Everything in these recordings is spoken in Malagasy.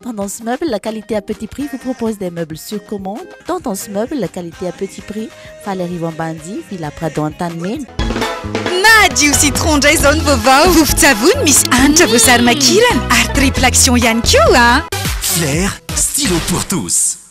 Tendance Meubles, qualité à petit prix vous propose des meubles sur commande. Tendance Meubles, qualité à petit prix, Faly Arivo Ambanjy, Villa Prado Antanimena. Nadio citron ndray izao ny vaovao. Vovon-tsavony misy hanitra voasary makirana ary triple action ihany koa. Flair, stylo pour tous.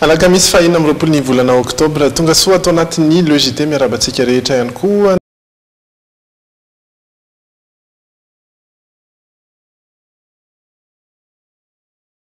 Alakamisy faha enina amby roapolo ny volana oktobra. Tonga soa ato anatin'ny Le JT. Miarahaba antsika rehetra ihany koa.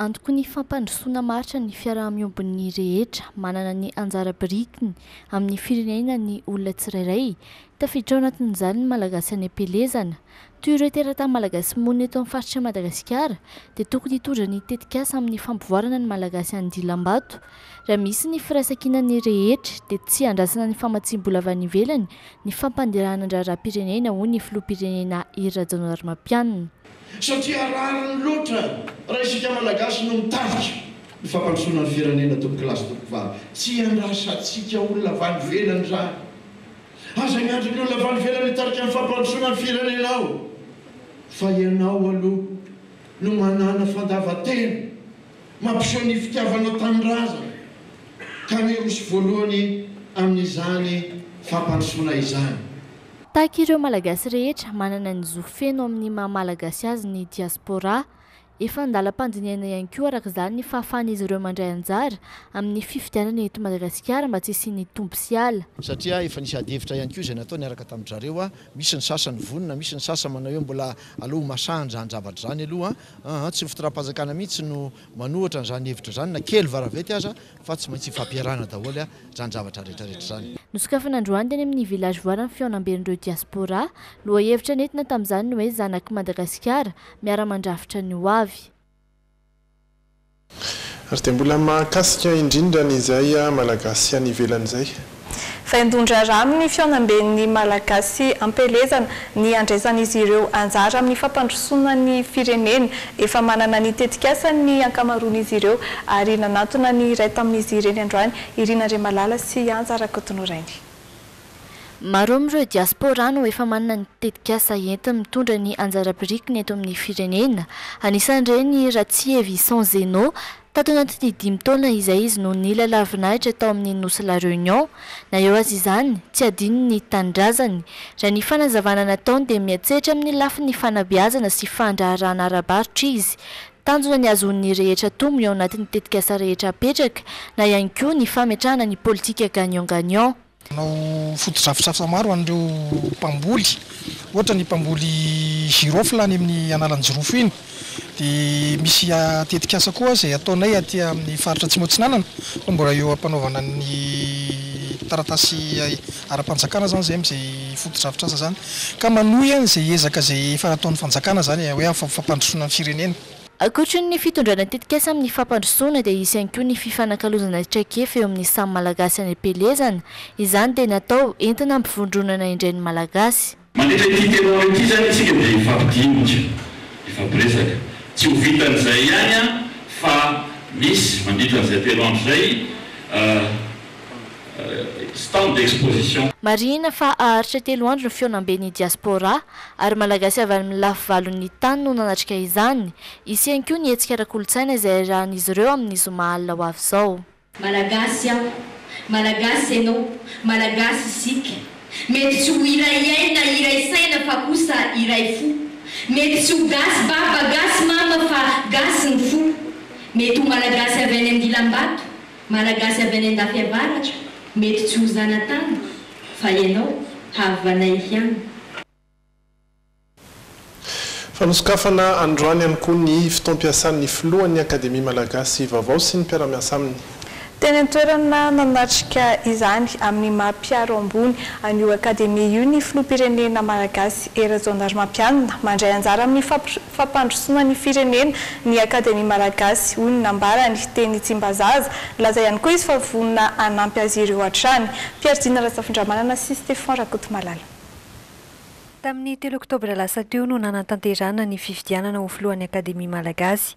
Antoky ny fampandrosoana maritra ny fiaraha-miombon'ny rehetra manana ny anjara biritiny amin'ny firenena ny olona tsirairay. Tafiditra ao anatin'izany ny Malagasy any am-pielezana. Toy ireo teratany malagasy monina eto amin'ny faritr'i Madagasikara, dia tokony hitondra ny tetikasa amin'ny fampivoarana ny Malagasy any dilam-bato. Raha misy ny firaisankina ny rehetra, dia tsy hiandrasana ny famatsiam-bola avy any ivelany ny fampandehanana ny raharaham-pirenena, hoy ny filoham-pirenena Hery Rajaonarimampianina. Satria rariny loatra raha isika Malagasy no mitafika ny fampandrosoana ny firenena tompoko lahy sy tompoko vavy. Tsy iandrasantsika olona avy any ivelany izany. Aza miandry ny olona avy any ivelany hitarika ny fampandrosoana ny firenenao fa ianao aloha no manana fandavan-tena mampiseho ny fitiavanao tanindrazana ka miroso voalohany amin'izany fampandrosoana izany. Tahaka ireo Malagasy rehetra, manana ny zo feno amin'ny maha Malagasy azy ny diaspora. Efa an-dalam-pandinihana ihany koa araka izany ny fahafahan'izy ireo mandray anjara amin'ny fifidianana eto Madagasikara mba tsy hisian'ny tombo sy ala. Satria efa nisy adihevitra ihany koa izay natao niaraka tamin-dry zareo, misy ny sasany vonona, misy ny sasany manao hoe mbola aleo ho masahan-dry izany zavatra izany aloha, aa tsy ny fitondram-panjakana mihitsy no. Manohitra an'izany hevitra izany na kely varaventy aza fa tsy maintsy ifampiarahana daholo izany zavatra rehetra rehetra izany. Nosokafana androany teny amin'ny Village Voara ny fihaonamben'ireo Diaspora. Lohahevitra nentina tamin'izany ny hoe Zanak'i Madagasikara, miara-mandrafitra ny ho avy. Ary dia mbola mahakasika indrindra an'izay Malagasy any ivelany izay. Vaindohan-draharaha amin'ny fihaonamben'ny Malagasy am-pielezana ny handraisan'izy ireo anjara amin'ny fampandrosoana ny firenena. Efa manana ny tetikasany ny ankamaroan'izy ireo ary nanantona ny iray tamin'izy ireny androany i Rina Andriamalala sy Anja Rakotonorainy. Maro amin'ireo diaspora no efa manana ny tetikasa entiny mitondra ny anjara birikiny eto amin'ny firenena. Anisan'ireny i Ratsievison Zeno, Tato anatin'ny dimy taona izay izy no nila lavinahitra tao amin'ny nosy La Réunion. Na eo aza izany, tsy adino ny tanindrazany. Raha ny fanazavana nataony dia miantsehatra amin'ny lafiny fanabeazana sy fandraharahana ara-barotra izy. Tanjona ny hahazoan'ny rehetra tomo eo anatin'ny tetikasa rehetra apetraka, na ihany koa ny fametrahana ny politika gagnant-gagnant. Nanao fotodrafitrasa maro ho an'ireo mpamboly, ohatra ny mpamboly girofle any amin'ny Analanjirofo iny, dia misy tetikasa koa izay ataonay aty amin'ny faritra Atsimo Atsinanana fa mbola eo am-panaovana ny taratasy ara-panjakana izany izay amin'izay fotodrafitrasa izany ka manohy izay ezaka izay efa nataon'ny fanjakana izany hoe fampandrosoana ny firenena. Ankoatry ny fitondrana tetikasa amin'ny fampandrosoana dia hisy ihany koa ny fifanakalozana traikefa eo amin'ny samy Malagasy any am-pielezana. Izany dia natao entina hampivondronana indray ny Malagasy. Mandritra ity telo andro ity izany isika dia hifampidinika, hifampiresaka. Tsy ho vitan'izay ihany an, fa misy mandritra an'izay telo andro izay stand d'exposition. Marihina fa haharitra telo andro ny fihaonamben'ny Diaspora ary Malagasy avy any amin'ny lafy valon'ny tany no nanatrika izany, hisy ihany koa ny hetsika ara-kolontsaina izay iarahan'izy ireo amin'ny zoma alina ho avy izao. Malagasy aho, Malagasy ianao, Malagasy isika, mety tsy ho iray aina iray saina fa kosa iray fo, mety tsy ho gasy baba gasy mama fa gasy ny foko, mety ho Malagasy avy any Andilambato, Malagasy avy any andafy avaratra mety tsy ho zanatany fa ianao havanay ihany. Fanosokafana androany ihany koa ny fotoam-piasan'ny filohan'ny Akademia Malagasy vaovao sy ny mpiara-miasa aminy. Teny an-toerana nanatrika izany amin'ny maha mpiaro ambony an'io Akademia io ny filoham-pirenena malagasy Rajaonarimampianina mandray anjara amin'ny fampandrosoana ny firenena ny Akademia Malagasy, hoy ny nambarany, teny Tsimbazaza. Nilaza ihany koa izy fa vonona hanampy azy ireo hatrany. Pierre Djina Razafindramanana sy Stefan Rakotomalala. Tamin'ny telo oktobra lasa teo no nanatanterahana ny fifidianana ho filohan'ny Akademia Malagasy.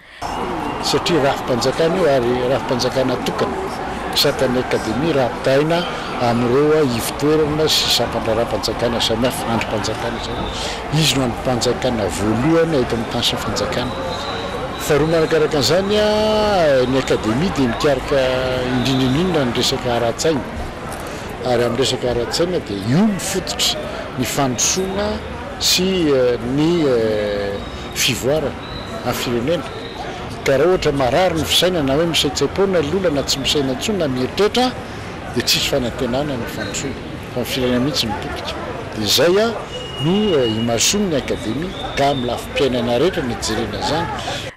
satria rafi-panjakana io ary rafi-panjakana tokana sata ny Akademia raha ampitahaina amin'ireo ivo-toerana sy sampan-draharaham-panjakana samihafa, andrim-panjakana izany, izy no andrim-panjakana voalohany eto amin'ny tany sy ny fanjakana. Faharoa manarakaraka an'izany, ny Akademia dia mikaroka indrindra indrindra ny resaka ara-tsaina ary amin'ny resaka ara-tsaina dia io no fototra ny fandrosoana sy ny fivoarana. na firenena. Ka raha ohatra marary ny fisainana na hoe misaintsaim-poana ilay olona na tsy misaina intsony na mieritreritra dia tsisy fanantenana ny fandrosoana fa ny firenena mihitsy no potika. Dia izay no imasoan'ny Akademia ka amin'ny lafim-piainana rehetra no ijerena izany.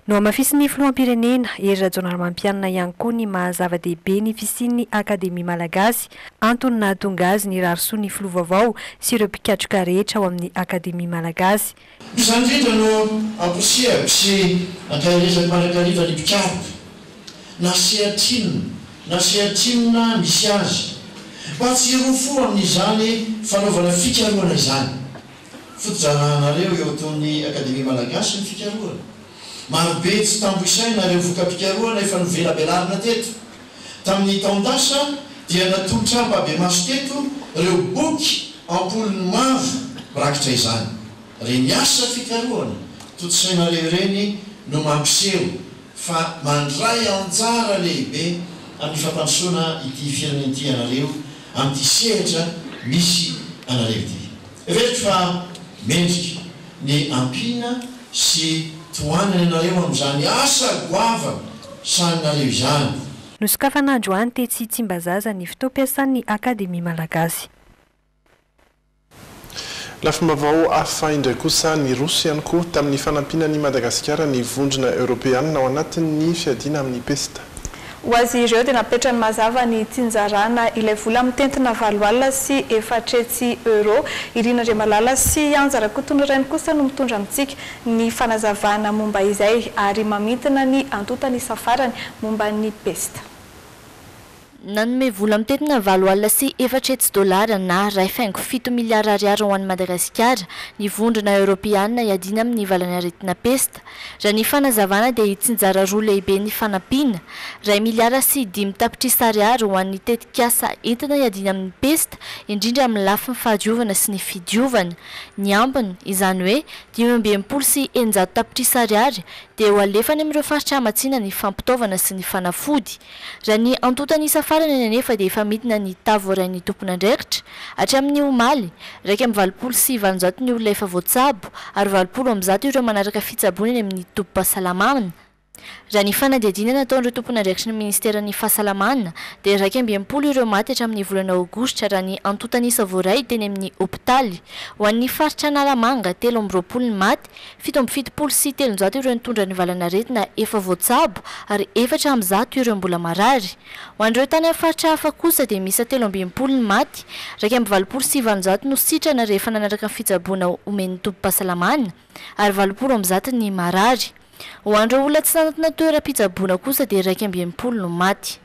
Nohamafisin'ny Filoham-pirenena, Hery Rajaonarimampianina ihany koa ny maha zava-dehibe ny fisian'ny Akademia Malagasy. Antony nahatonga azy nirary soa ny Filoha vaovao sy ireo mpikatroka rehetra ao amin'ny Akademia Malagasy. Izany indrindra no amporisihako sy ankaherezam-panankarena ny mpikaroka, na sehatrinona na sehatrinona misy azy, mba tsy hiroa fo amin'izany fanaovana fikarohana izany. Foto-draharahanareo eo antonon'ny Akademia Malagasy ny fikarohana. Marobe tsy tambo isaina ireo voka-pikarohana efa novelabelarina teto. Tamin'ny taon-dasa dia natolotra am-pabemaso teto ireo boky am-polony maro mirakitra izany. Ireny asa fikarohana tontosainareo ireny no mampiseho fa mandray anjara lehibe amin'ny fampandrosoana ity firenena ity ianareo amin'ity sehatra misy anareo ity. Heveriko fa mendrika. ny ampiana sy tohanana ianareo amin'izany asa goavana sahaninareo izany. Nosokafana androany tetsy Tsimbazaza ny fotoam-piasan'ny Akademia Malagasy. Lafim-baovao hafa indray kosa ny roso ihany koa tamin'ny fanampiana an'i Madagasikara ny vondrona eoropeanina ao anatin'ny fiadiana amin'ny pesta. Ho azy ireo dia napetrany mazava ny tsinjarana ilay vola mitentina valo alina sy efatra hetsy euro. I Rina Andriamalala sy Anja Rakotonirainy kosa no mitondra amintsika ny fanazavana momba izay ary mamintina ny antontan'isa farany momba ny pesta. Nanome vola mitentina valo alina sy efatra hetsy dolara na iray faingo fito miliara ariary ho an'i Madagasikara ny Vondrona Eoropeana hiadiana amin'ny valanaretina pesta. Raha ny fanazavana dia hitsinjara roa lehibe ny fanampiana, iray miliara sy dimy tapitrisa ariary ho an'ny tetikasa entina hiadiana amin'ny pesta, indrindra amin'ny lafiny fahadiovana sy ny fidiovana. Ny ambiny, izany hoe dimy amby enimpolo sy eninjato tapitrisa ariary dia ho alefa any amin'ireo faritra hamatsiana ny fampitaovana sy ny fanafody. Raha ny antontan'isa farany any anefa dia efa midina ny taha voarain'ny tompon'andraikitra. Hatramin'ny omaly, iraika amby valopolo sy valonjato ny olona efa voatsabo ary valopolo amby zato ireo manaraka fitsaboana eny amin'ny tobim-pahasalamana. Raha ny fanadihadiana nataon'ireo tompon'andraikitry ny Ministeran'ny Fahasalamana dia iraika amby enimpolo ireo maty hatramin'ny volana aogositra raha ny antontan'isa voaray teny amin'ny hopitaly. Ho an'ny faritra Analamanga, telo amby roapolo ny maty. Fito amby fitopolo sy telonjato ireo nitondra ny valan'aretina efa voatsabo ary efatra amby zato ireo mbola marary. Ho an'ireo tany amin'ny faritra hafa kosa dia miisa telo amby enimpolo ny maty, iraika amby valopolo sy valonjato no sitrana rehefa nanaraka ny fitsaboana omen'ny tobim-pahasalamana ary valopolo amby zato ny marary. Ho an'ireo olona tsy nanantona toeram-pitsaboana kosa dia iraika amby enimpolo no maty.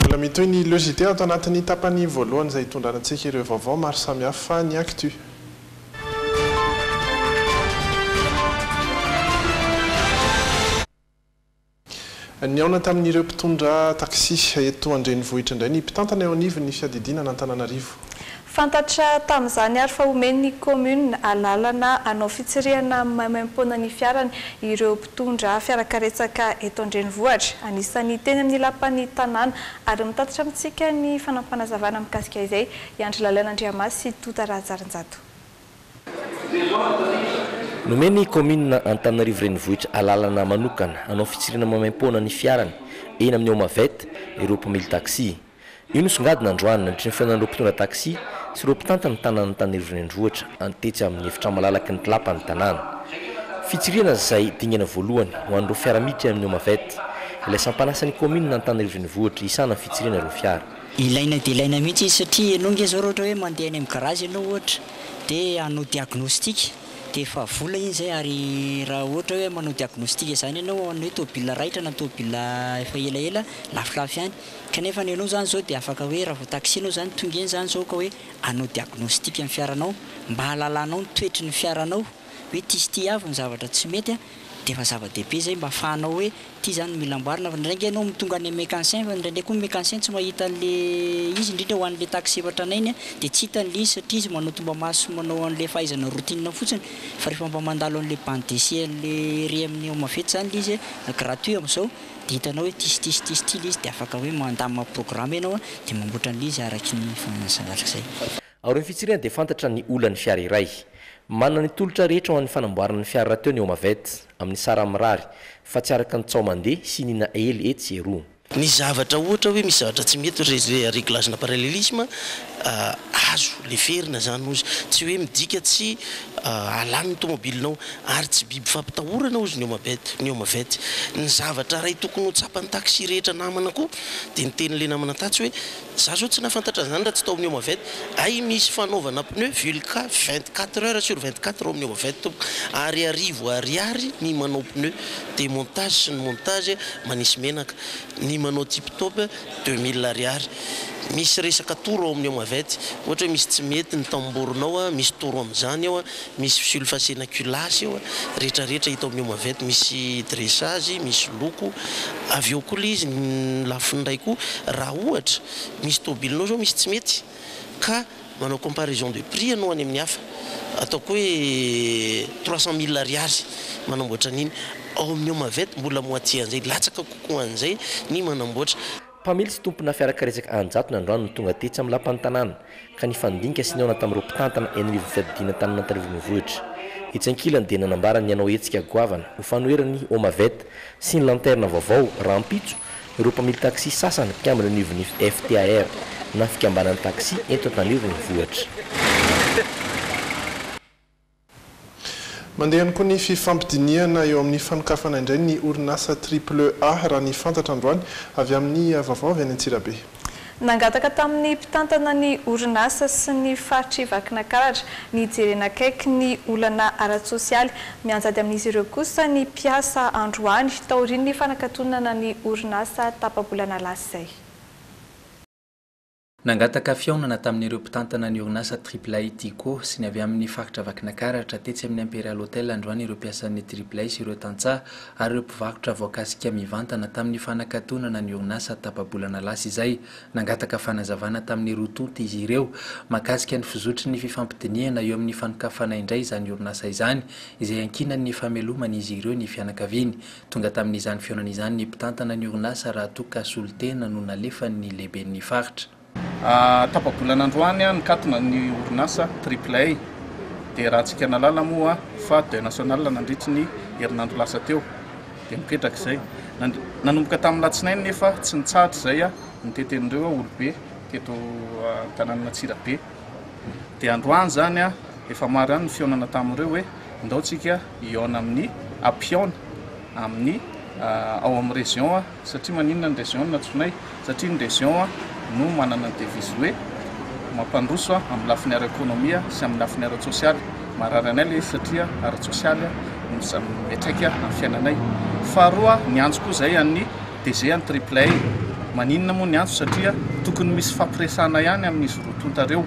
Mbola mitohy ny Le JT ato anatin'ny tapany voalohany izay hitondrana antsika ireo vaovao maro samihafa ny Actu. Nihaona tamin'ireo mpitondra taxi eto an-drenivohitra indray ny mpitantana eo anivon'ny fiadidiana an'Antananarivo. Fantatra tamin'izany ary fa omen'ny kaominina alalana hanao fitsirihana maimaimpoana ny fiarany ireo mpitondra fiarakaretsaka eto an-drenivohitra. Anisan'ny teny amin'ny lapan'ny tanàna ary mitatitra amintsika ny fanapanazavana mikasika izay i Andry Lalana Andriamasy sy Tota Rahajarinjato. Nomen'ny kaominina Antananarivo Renivohitra alalana manokana hanao fitsirihana maimaimpoana ny fiarany eny amin'ny Homavet ireo mpamily taxi. Io nosongadina androany nandritra ny fihaonan'ireo mpitondra taxi sy ireo mpitantana ny tanàna Antanirony Renivohitra any tetsy amin'ny efitra malalaky ny tlapany tanàna. Fitsirihana izay dingana voalohany ho an'ireo fiara miditra eny amin'ny Homavet, ilay sampanasan'ny kaominina Antanirivony Renivohitra hisahana ny fitsirihana ireo fiara. Ilaina dia ilaina mihitsy izy satria ianao nge zao raha ohatra hoe mandeha any amin'ny garage ianao ohatra dia hanao diagnostic dia efa vola iny zay ary raha ohatra hoe manao diagnostic izany ianao amin'ny hoe tôbila raitra na tôbila efa elaela lafolafo ihany Kanefa ny anao zany zao dia afaka hoe raha vao taxi anao zany tonga eny zany zao ka hoe anao diagnostic ny fiaranao mba halalanao ny toetry ny fiaranao hoe ty sy ty avy ny zavatra tsy mety a dia efa zava-dehibe zay mba afahanao hoe ty zany no mila amboarina fa indraindray enao no tonga any am mecancien fa indraindray koa ny mecancien tsy mahita anle izy indrindra ho anle taxi efa tranainy a dia tsy hitany le izy satria izy manao tombamaso sy manao anle fahaizana routine fotsiny fa rehefa mba mandalo anle banc d'essai anle ery aminy ao mavety zany le izy a gratuit amzao Dia hitanao hoe ity sy ity sy ity sy ity ilay izy dia afaka hoe mandamina programa ianao an, dia mamboatra an'ilay izy araky ny zavatra izay. Aorian'ny fitsirihana dia fantatra ny olan'ny fiara iray. Manana ny tolotra rehetra ho an'ny fanamboarana ny fiara rahateo ny Homavet, amin'ny sarany mirary, fa tsy araka ny tsaho mandeha sy ny ina ely etsy eroa. Ny zavatra ohatra hoe misy zavatra tsy mety hoe réglage na parallélisme Azo leferina izany hozy, tsy hoe midika tsy halany ny tomobilinao, ary tsy biby fampitahorana hozy ny Homabet, ny Homavet. Ny zavatra iray tokony ho tsapan'ny taxi rehetra namana koa dia nitenin'ilay namana tatsy hoe, Izaho izao tsy nahafantatra an'izany raha tsy tao amin'ny Homavet. Hay misy fanaovana pneu Vulca vingt quatre heures sur vingt quatre ao amin'ny Homavet tompoko, ary arivo ariary ny manao pneu, dia montage sy ny montage manisy menaka, ny manao tip top Deux mille ariary. Misy resaka tour ao amin'ny Homme Avec. Ohatra hoe misy tsy mety ny tamborinao a, misy tour amin'izany ao a, misy fisolfasena culasse eo a, rehetra rehetra hita ao amin'ny Homme Avec. Misy dressage, misy loko. Avy eo koa ilay izy ny lafiny iray koa, raha ohatra misy tomobilinao izao misy tsy mety ka. Manao comparaison de prix ianao any amin'ny hafa, ataoko hoe trois cent mille ariary manamboatra an'iny, ao amin'ny Homavet mbola moitié an'izay, latsaka kokoa an'izay ny manamboatra. Mpamily sy tompona fiara karetsaka an-jatony androany no tonga tetsy amin'ny lapan'ny tanàna ka nifandinika sy nihaona tamin'ireo mpitantana eny anivon'ny fiadidiana antanin'Antananarivo Renivohitra. Etsy ankilany dia nanambara ny hanao hetsika goavana ho fanoheran'ny Homavet sy ny lanterne vaovao rahampitso Ireo mpamily taxi sasany mpiambina ny ivon'ny FTAR na fikambanan'ny taxi eto Antanirony vohitra. Mandeha ihany koa ny fifampidinihana eo amin'ny fanokafana indray ny orinasa Triple A raha ny fantatra androany avy amin'ny vaovao avy any Antsirabe. Nangataka tamin'ny mpitantana ny orinasa sy ny faritr'i Vakinankaratra ny hijerena akaiky ny olana ara-tsosialy mianjady amin'izy ireo kosa ny mpiasa androany taorian'ny fanakatonana ny orinasa tapa-bolana lasa izay. Nangataka fihaonana tamin'ireo mpitantana ny orinasa Triplay Tico sy ny avy amin'ny faritra Vakinankaratra tetsy amin'ny Imperial Hotel androany ireo mpiasan'ny Triplay sy ireo tantsaha ary ireo mpivarotra voakasika mivantana tamin'ny fanakatonana ny orinasa tapa-bolana lasa izay. Nangataka fanazavana tamin'ny roa tonta izy ireo mahakasika ny fizotry ny fifampidinihana eo amin'ny fanokafana indray izany orinasa izany izay iankinan'ny fameloman'izy ireo ny fianakaviany. Tonga tamin'izany fihaonana izany ny mpitantana ny orinasa raha toa ka solontena no nalefan'ny lehiben'ny faritra. Tapa-bolana androany ny katona ny orinasa Triple A dia raha antsika nahalala moa fa deuil national nandritry ny herinandro lasa teo dia mipetraka izay. Nanomboka tamin'ny latsinainy nefa tsy nitsahatra izay ny teten'ireo olobe teto an-tanànana Antsirabe. Dia androany izany efa maro ihany ny fihaonana tamin'ireo hoe ndao tsika hihaona amin'ny hampihaona amin'ny ao amin'ny région. Satria maninona ny Région no natsofinay? Satria ny Région no manana ny devise hoe mampandroso amin'ny lafiny ara-ekonomia sy amin'ny lafiny ara-tsosialy. Marary anay ilay izy satria ara-tsosialy no miantraika amin'ny fiainanay. Faharoa, niantso koa izay an'ny DG an'i Triple A. Maninona moa niantso? Satria tokony misy fifampiresahana ihany amin'izy roa tonta ireo.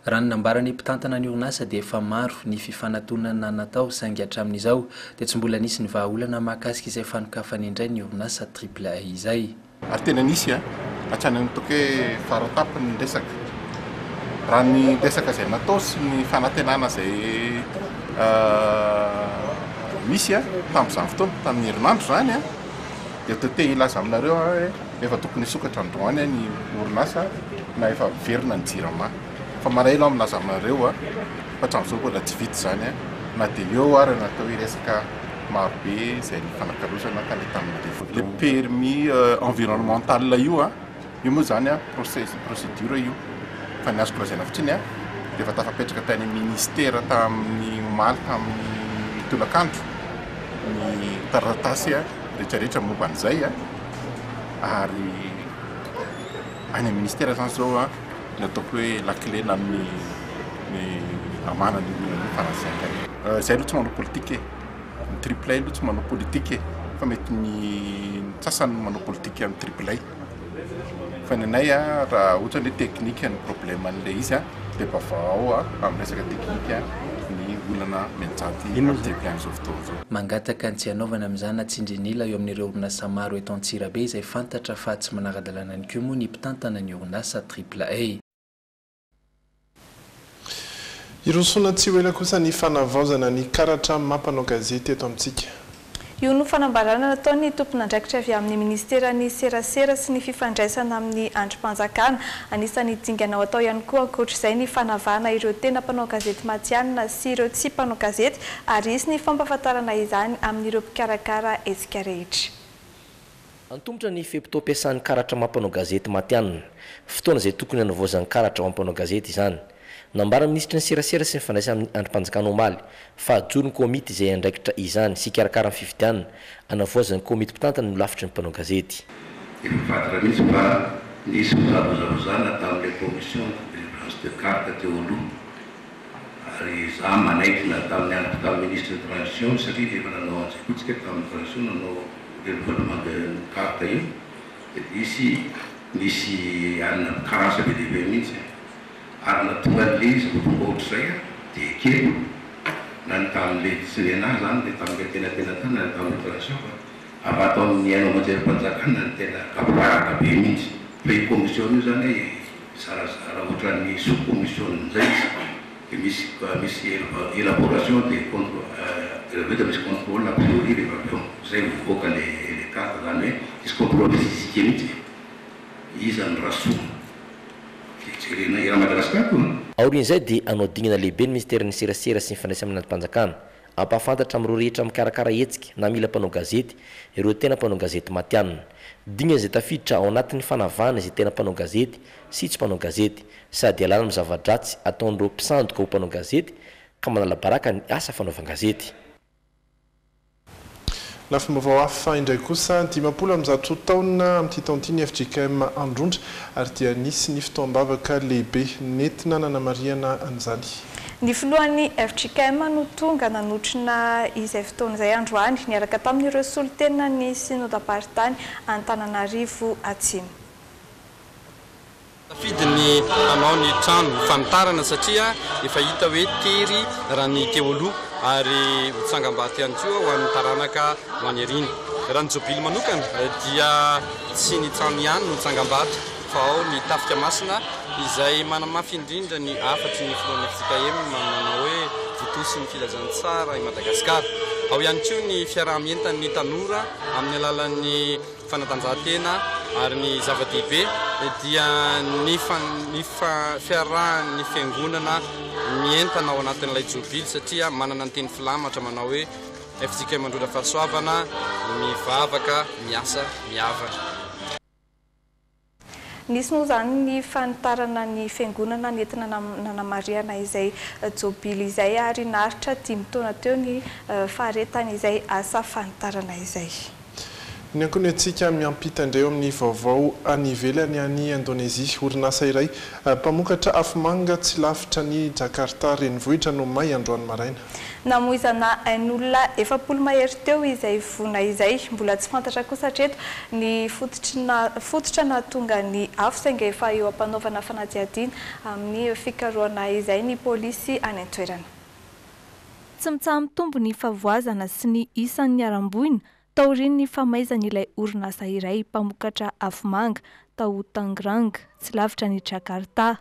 Raha ny nambaran'ny mpitantana ny orinasa dia efa maro ny fifanatonana natao saingy hatramin'izao dia tsy mbola nisy ny vahaolana mahakasika izay fanokafany indray ny orinasa Triple A izay. Ary tena nisy an! Hatrany amin'ny toaka hoe faratapony ny resaka. Raha ny resaka izay natao sy ny fanantenana izay nisy an, tamin'izany fotoana, tamin'ny herinandro izany an, dia te-hilaza aminareo aho hoe. Efa tokony hisokatra androany ny orinasa na efa miverina ny jirama fa malahelo aho milaza aminareo a! fa hatramin'izao mbola tsy vita izany a! na dia eo ary ny atao hoe resaka marobe izay nifanakalozana tany tamin'ny le permis environnemental io a! io moa izany a! procedure io fa ny azoko lazaina fotsiny a! dia efa tafapetraka tany amin'ny ministera tamin'ny omaly tamin'ny tolakandro ny taratasy rehetrarehetra momba an'izay a! ary any amin'ny ministera izany izao an, ny ataoko hoe lakile na ny amanan'ny olona aloha faran'izay angamba e! Izahay aloha tsy manao politika e! Ny triple A aloha tsy manao politika e! Fa mety ny sasany no manao politika amin'ny triple A. Fa ny anay an, raha ohatra ny hoe teknika ny probleman'ilay izy an, Tepavao amin'ny resaka teknika ny olana mianjady amin'ny diadian'izao fotoana izao. Mangataka ny tsy hanaovana mizana tsindrin'ila eo amin'ireo orinasa maro eto Antsirabe izay fantatra fa tsy manara-dalàna ihany koa moa ny mpitantana ny orinasa Triple A. Hirosoana tsy ho ela kosa ny fanavaozana ny karatra amin'ny maha mpanao gazety eto amintsika. Io no fanambarana nataon'ny tompon'andraikitra avy amin'ny minisiteran'ny Serasera sy ny fifandraisana amin'ny andrim-panjakana. Anisan'ny dingana ho atao ihany koa ankoatr'izay ny fanavahana ireo tena mpanao gazety matihanina sy ireo tsy mpanao gazety ary hisy ny fampahafantarana izany amin'ireo mpikarakara hetsika rehetra. Antomotra ny fe-potoam-piasan'ny karatra maha mpanao gazety matihanina. Fotoana izay tokony hanavaozan'ny karatra ho an'ny mpanao gazety izany. Nambaran'ny minisitry ny Serasera sy ny fandraisana amin'ny andrim-panjakana omaly, fa hajoro ny komity izay andraikitra izany sy hikarakara ny fifidianana, hanavaozan'ny komity mpitantana ny holafitry ny mpanao gazety. Efa fantatra mihitsy fa nisy firavaozavaozana tamin'ilay commission de délivrance de carte teo aloha, Ary za manaiky na tamin'ny andro tamy ministre de transition satria ny efa nanao antsika koa tsika tamin'ny transition nanao renouvellement de carte io dia nisy nisy anina carence be dia be mihintsy e! ary na tonga an'le izy vao tonga ohatr'izay an! dia ekeko na ny tamin'le tsy nenà zany le tamin'le tena tena tany na ny tamin'le transition fa avy ato amin'ny haino aman-jerim-panjakana ny tena gaboraraka be mihintsy fa io commission io zany Mizarazara ohatran'ny sous commission izay izy dia misy misy elaboration dia contrôle avy eo dia misy contrôle a priori rehefa avy eo izay vao mivoaka le le cadre izany hoe misy contrôle physique mihitsy hoe iza no rasoa dia jerena eran'ny Madagascar koa. Aorian'izay dia hanao dingana lehibe ny minisiteran'ny serasera sy ny fandraisam-banan'mpanjakana Ampahafantatra amin'ireo rehetra mikarakara hetsika na mila mpanao gazety ireo tena mpanao gazety matihanina. Dingana izay tafiditra ao anatin'ny fanavahana izay tena mpanao gazety sy tsy mpanao gazety sady ialana amin'ny zava-dratsy ataon'ireo mpisandoka ho mpanao gazety ka manala baraka ny asa fanaovan-gazety. Lafim-baovao hafa indray kosa, dimampolo amby zato taonina amin'ity taona ity ny fjkm Androndra ary dia nisy ny fotoam-bavaka lehibe nentina nanamarihana an'izany. Ny filohan'ny fjkm no tonga nanotrona izay fotoana izay androany, niaraka tamin'ireo solontenan'ny Synodam-paritany Antananarivo Atsimo. Safidy ny hanao ny trano fanitarana satria efa hita hoe tery raha ny teo aloha ary ho tsangambato ihany koa ho an'ny taranaka ho any aoriana. Raha ny Jobily manokana dia tsy ny trano ihany no tsangambato fa ao ny tafika masina izay manamafy indrindra ny hafatry ny filohan'ny fjkm manao hoe votoso ny filazantsara i Madagasikara. Ao ihany koa ny fiaraha-mientan'ny tanora amin'ny alalan'ny fanatanjahantena ary ny zava-dehibe dia ny fiarahan'ny fiangonana mientana ao anatin'ilay jobily satria manana ny teny filamatra manao hoe FJK Mandrora Fahasoavana mivavaka miasa mihavana. Nisy moa izany ny fanitarana ny fiangonana nentina nanamarihana izay jobily izay ary naharitra dimy taona teo ny faharetan'izay asa fanitarana izay. Ny ankohonantsika miampita indray eo amin'ny vaovao any ivelany, any Indonezia, orinasa iray mpamokatra afomanga tsy lavitra an'i Jakarta renivohitra no may androany maraina. Namoizana ain'olona efapolo mahery teo izay voina izay. Mbola tsy fantatra kosa hatreto ny fototra nahatonga ny afo saingy efa eo am-panaovana fanadihadiana amin'ny fikarohana izay ny polisy any an-toerana. Tsy mitsaha-mitombo ny fahavoazana sy ny isan'ny niharam-boina taorian'ny famaizan'ilay orinasa iray mpamokatra afomanga tao Tangerang, tsy lavitra an'i Jakarta.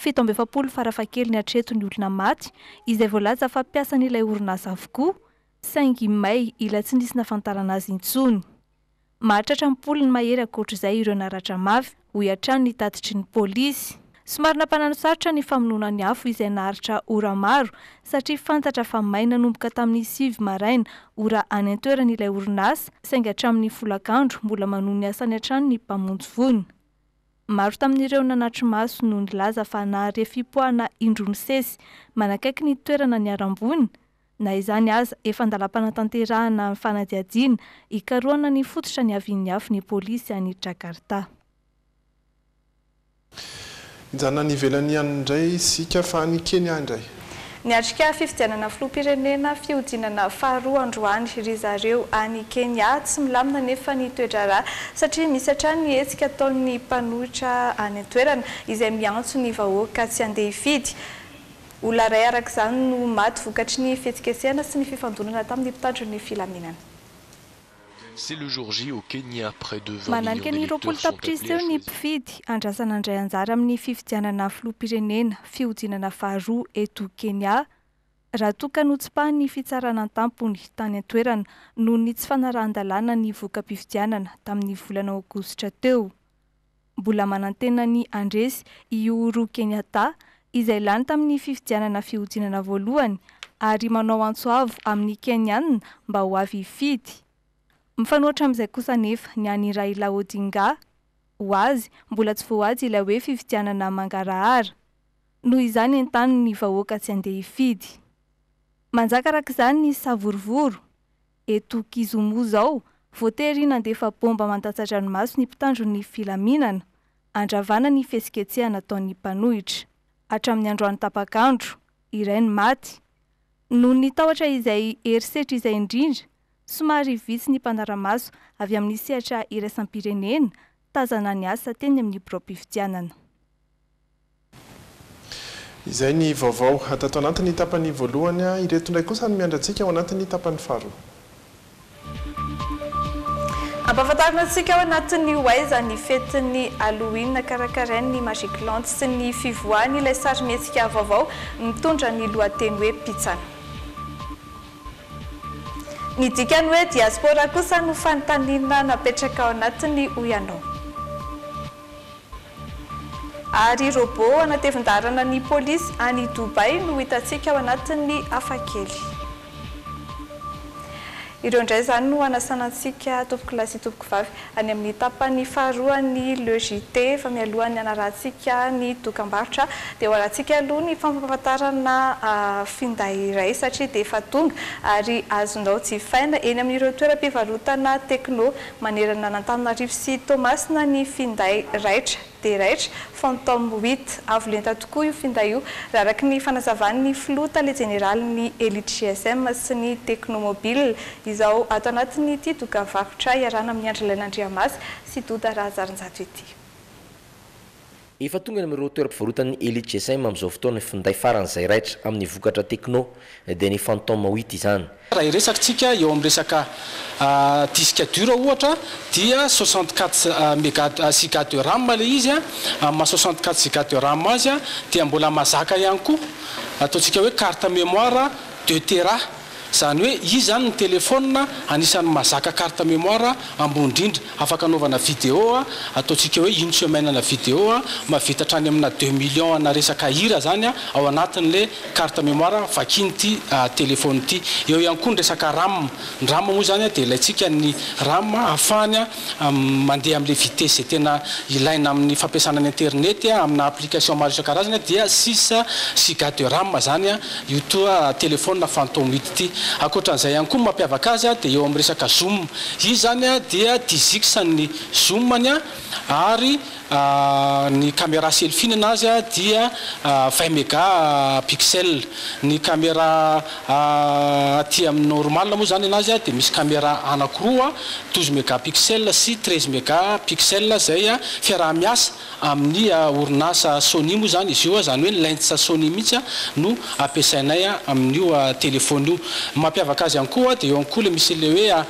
Fito amby efapolo farafahakeliny hatreto ny olona maty, izay voalaza fa mpiasan'ilay orinasa avokoa, saingy may ila tsy nisy nahafantarana azy intsony. Mahatratra am-polony mahery ankoatr'izay ireo naratra mafy, hoy hatrany ny tatitry ny polisy. Somary nampananosarotra ny famonoana ny afo izay naharitra ora maro, satria fantatra fa may nanomboka tamin'ny sivy maraina, ora any an-toerana ilay orinasa, saingy hatramin'ny folakandro mbola manohy ny asany hatrany ny mpamonjy voina. Maro tamin'ireo nanatri-maso no nilaza fa nahare fipoahana indroa misesy manakaiky ny toerana niharam-boina. Na izany aza, efa an-dalam-panatanterahana ny fanadihadiana hikarohana ny fototra niavian'ny afo ny polisy any Jakarta. Hijanona any ivelany ihany indray isika fa any Kenya indray. Niatrika fifidianana filoham-pirenena fihodinana faharoa androany ry zareo any Kenya. Tsy milamina anefa ny toe-draharaha satria misy hatrany ny hetsika ataon'ny mpanohitra any an-toerana izay miantso ny vahoaka tsy handeha hifidy. Olona iray araka izany no maty vokatry ny fihetsiketsehana sy ny fifandonana tamin'ny mpitandro ny filaminana. Mananika ny roapolo tapitrisa eo ny mpifidy andrasana handray anjara amin'ny fifidianana filoham-pirenena fihodinana faharoa eto Kenya, raha toa ka notsipahin'ny fitsarana an-tampony tany an-toerana noho ny tsy fanarahan-dalàna ny voka-pifidianana tamin'ny volana aogositra teo. mbola manantena ny handresy i Uhuru Kenyatta, izay lany tamin'ny fifidianana fihodinana voalohany, ary manao antso avo amin'ny Kenyana mba ho avy hifidy. Mifanohatra amin'izay kosa anefa ny an'i Raila Odinga. Ho azy, mbola tsy voady ilay hoe fifidianana mangarahara. Noho izany entaniny ny vahoaka tsy handeha hifidy. Manjaka araka izany ny savorovoro, eto Kisumu zao, voatery nandefa bomba mandatsa-dranomaso ny mpitandro ny filaminana, andravana ny fihetsiketsehana ataon'ny mpanohitra. Hatramin'ny androany tapak'andro, iray no maty. Noho ny tahotra izay herisetra izay indrindra, somary vitsy ny mpanara-maso avy amin'ny sehatra iraisam-pirenena tazana niasa teny amin'ny biraom-pifidianana. Izay ny vaovao tato anatin'ny tapany voalohany. Ireto indray kosa no miandry antsika ao anatin'ny tapany faharoa. Ampahafantarina antsika ao anatin'ny ho aiza ny fetin'ny Halloween karakarain'ny Magic Land sy ny fivoahan'ilay sarimihetsika vaovao mitondra ny lohateny hoe Pitsana. Ny dikan'ny hoe diaspora kosa no fanontaniana napetraka ao anatin'ny Hoy Ianao. Ary robot hanatevin-dalana ny polisy any Dubaï no hitantsika ao anatin'ny hafakely. Ireo indray izany no hanasana antsika tompokolahy sy tompokovavy any amin'ny tapany faharoan'ny Le JT fa mialohan'ny hanarahantsika ny dokambarotra dia ho arahantsika aloha ny fampahafantarana finday iray satria dia efa tonga ary azonao jifaina eny amin'ireo toeram-pivarotana Tecno Manerana an'Antananarivo sy Toamasina ny finday raitra dia raitra, Fantôme huit. Avo lenta tokoa io finday io, raha araka ny fanazavan'ny filoha tale jeneralin'ny Elite GSM sy ny Technomobile izao ato anatin'ity dokam-barotra iarahana amin'i Andrilaina Andriamasy sy Doda Rahazarinjato ity. Efa tonga any amin'ireo toeram-pivarotan'ny Elite GSM amin'izao fotoana ny finday faran'izay raitra amin'ny vokatra Tecno, dia ny Phantom Huit izany. Raha hiresakantsika eo amin'ny resaka disque dur ohatra dia soixante quatre mega giga de ram ilay izy, amin'ny maha soixante quatre giga de ram azy dia mbola mazaka ihany koa, ataontsika hoe carte mémoire deux tera. Izany hoe izy izany ny telefaonina anisan'ny mahazaka carte mémoire ambony indrindra, afaka anaovana video, ataontsika hoe une semaine ana video, mahavita hatrany amina deux millions ana resaka hira izany ao anatin'ilay carte mémoire vakian'ity telefaonina ity. Eo ihany koa ny resaka ram, ny ram moa izany dia ilaintsika ny ram ahafahany mandeha amin'ilay vitesse izay tena ilaina amin'ny fampiasana ny internet amina application maro isan-karazany dia sys sy ga de ram izany io toa telephone phantom huit ity. Ankoatran'izay ihany koa ny mampiavaka azy dia eo amin'ny resaka zoom. Izy izany dia dix x ny zoom-ny ary Ny camera selfie-nana azy dia vingt mega pixel. Ny camera aty amin'ny normal moa izany anazy dia misy camera anakiroa, douze mega pixel sy treize mega pixel, izay fiaraha-miasa amin'ny orinasa Sony moa izany izy io, izany hoe ny lens Sony mihitsy no ampiasainay amin'io telefaonina io. Ny mampiavaka azy ihany koa dia eo ihany koa ilay misy ilay hoe.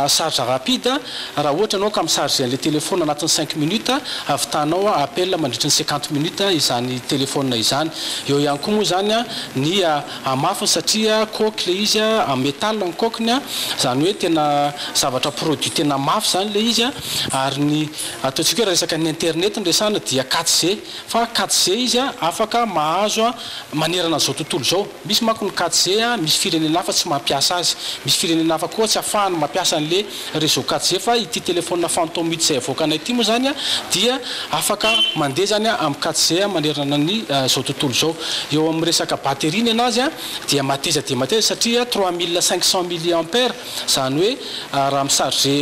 Charge rapide, Raha ohatra ianao ka mi-charger an'ilay telephone anatin'ny cinq minutes, havitanao appel mandritry ny cinquante minutes izany telephone izany. Eo ihany koa moa izany ny hamafiny satria coque ilay izy, en métal ny coque-ny, izany hoe tena zavatra produit tena mafy izany ilay izy. Ary ny ataontsika hoe raha resaka ny internet no resahana dia quatre G, fa quatre G izy afaka mahazo manerana an'izao tontolo izao. Misy manko ny quatre G a, misy firenena hafa tsy mampiasa azy. Misy firenena hafa koa tsy afahany mampiasa an'le réseau quatre G fa ity téléphone Phantom ito zay avoakanay ity moa zany a dia afaka mandeha zany a amin'ny quatre G manerana ny zao tontolo zao. Eo amin'ny resaka batterie ny anazy a dia mateza dia mateza satria trois mille cinq cent milliampère Zany hoe raha mi-charge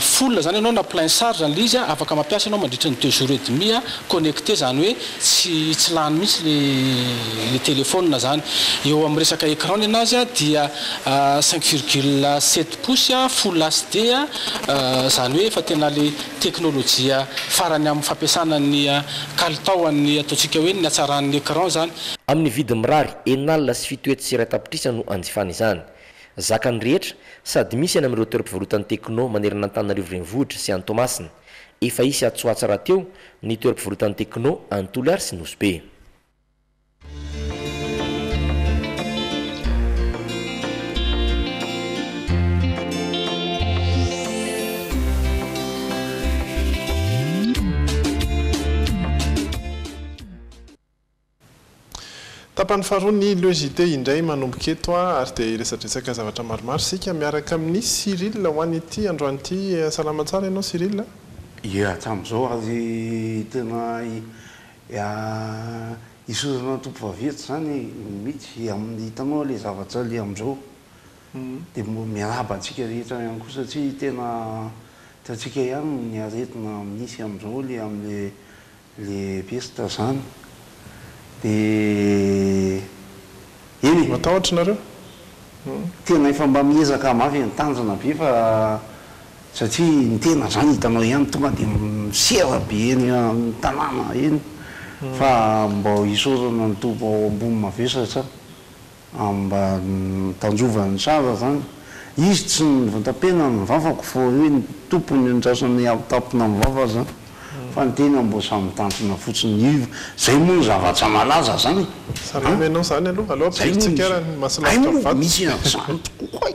full zany ianao na plein charge an'ilay izy afaka mampiasa ianao mandritra ny deux jours et demi connecté zany hoe tsy tsy lany mihitsy ilay téléphone zany. Eo amin'ny resaka écran ny anazy dia cinq virgule sept pouce full HD zany hoe efa tena ilay teknolojia farany amin'ny fampiasana ny kalitao an'ny ataontsika hoe ny hatsaran'ny écran zany. Amin'ny vidiny mirary, enina alina sy fito hetsy sy iray tapitrisa no hanjifana izany. Zakan'ny rehetra, sady misy any amin'ireo toeram-pivarotan'ny Tecno manerana Antananarivo Renivohitra sy any Toamasina. Efa hisy Atswatsa rahateo ny toeram-pivarotan'ny Tecno any Toliary sy Nosy Be. Tapany faharoa ny LEJT indray manomboka eto ary dia hiresadresaka zavatra maromaro isika miaraka amin'i Cyrille ho an'ity androany ity. Salama tsara ianao Cyrille a! Ie, hatramin'izao ary tena hisaorana ny Tompo fa vitsy izany e, mihitsy amin'ny hitanao ilay zavatra le amin'izao dia miarahaba antsika rehetra ihany koa satria tena hitantsika ihany ny aretina misy amin'izao le amin'ilay ny piste zany dia eny e! Matahotra nareo? Tena efa mba miezaka mafy e, tanjona be fa satria ny tena zany hitanao ihany tonga dia misera be eny amin'ny tanàna eny fa mba isaorana ny Tompo ao ambony mavesatra Ambany tanjovan'ny sara zany. Izy tsy nivantam-pena ny vavako fa hoe ny tompony andrasana hiampitampina ny vava zany fa ny tena mbo samy mitantsona fotsiny io zay moa ny zavatra malaza zany e! Salama ianao zany aloha, aleo ampidirintsika ara ny mahatsilavitra ny vato. Hay moa misy an'izany tokoa e!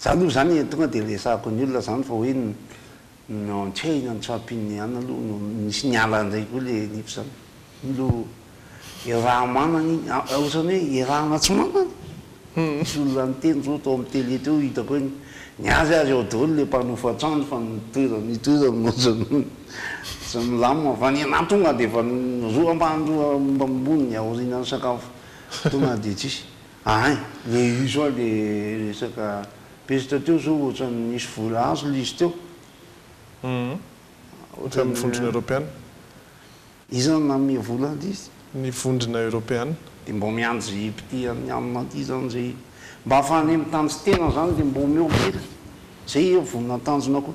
Za aloha zany tonga dia resahako ny olona zany fa hoe niantrehina ny champigny ihany aloha no nisy niala indray koa le nify zany. Milo iaraha manana iny ohatrany hoe iarahana tsy manana. Nisy olona niteny zao tao amin'ny télé teo hitako hoe ny azy ary ao daholo le mpanofa trano fa ny toerana ny toerana no tsy milamina fa ny anah tonga dia efa roa ambany roa ambony ny aorianan'ny sakafo tonga dia tsisy. Ahay, le izy hoa le resaka pesta teo zao ohatrany nisy vola azo le izy teo. Humm, avy amin'ny vondrona eoropeana. Iza no nanome vola an izy? Ny vondrona eoropeana. Dia mba omeo an izay mpitia an'i Amina ity izany izay mba afahanay mitanjy tena izany dia mba omeo kely izay e vonona tanjona koa.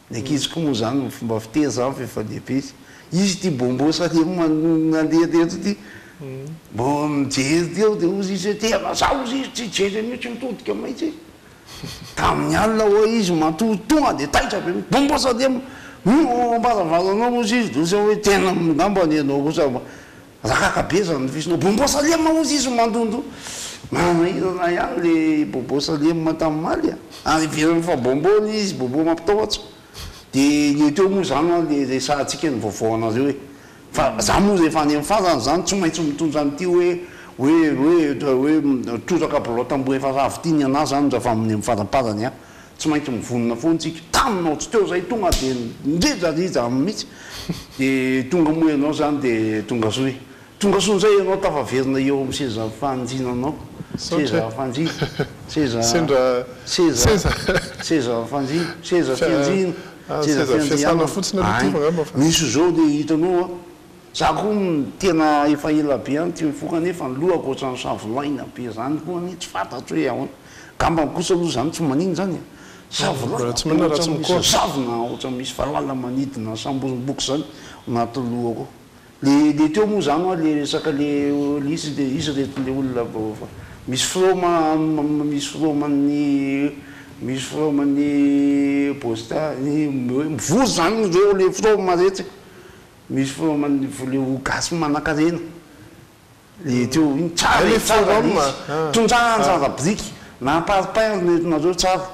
Ny ankizy koa moa zany ny fomba fiteny zany fa efa lehibe izy. Izy ity Bombo sahirano mandehandeha eto ity mbo mijery ity aho dia ozy izy hoe tena za ozy izy tsy hijery an'io tsy mitodika mihitsy izy. Tamin'ny alina ho'a izy matory tonga dia taitra be mihitsy, Bombo sahirano miomana eo am-baravarana eo ozy izy dia ozy aho hoe tena ngambany ianao kosa Rakaka be zany visona. Bobo Saleem ozy izy mandondo manahirana ihany le Bobo Saleem tam maly a! Ary heveriny fa Bombo le izy Bobo mampitaoatso. De leo teo moa zany an le resahantsika ny vaovao anareo e! Fa za moa rehefa any am farany zany tsy maintsy mitondra an'ity hoe hoe hoe hoe toraka birao tamboho efa ravo ty ny anah zany rafa any am faraparany an! Tsy maintsy mivonona foana isika. Taminao tsy teo izay tonga dia niredrarija aminy mihitsy. Dia tonga moa ianao izany dia tonga soa e. Tonga soa indray ianao tafaverina eo amin'ny seza fandriananao. Seza fandriana. Seza, seza, seza fandriana. Seza fiandriana. Seza fiandrianana. Aina. Misy izao dia hitanao an. Za ko tena efa ela be any ty mifoka nefa ny lohako otrany savolaina be zany ko anie tsy fantatro hoe ahoana ngambany kosa aloha zany tsy manino zany e savolaina be otrany misy zavona otrany misy valala manidina samborimboky zany anaty lohako ao le le teo moa zany hoa le resaka le izy le izy reto le olona vaovao misy firaoma misy firaoman'ny misy firaoman'ny bosta ny hoe mivory zany ireo le firaoma reto e. Misy foana manome volet ho gasy manankarena le teo iny tsara e tsara mintsy tondraha anjara biriky na ampariparina ireto nareo tsara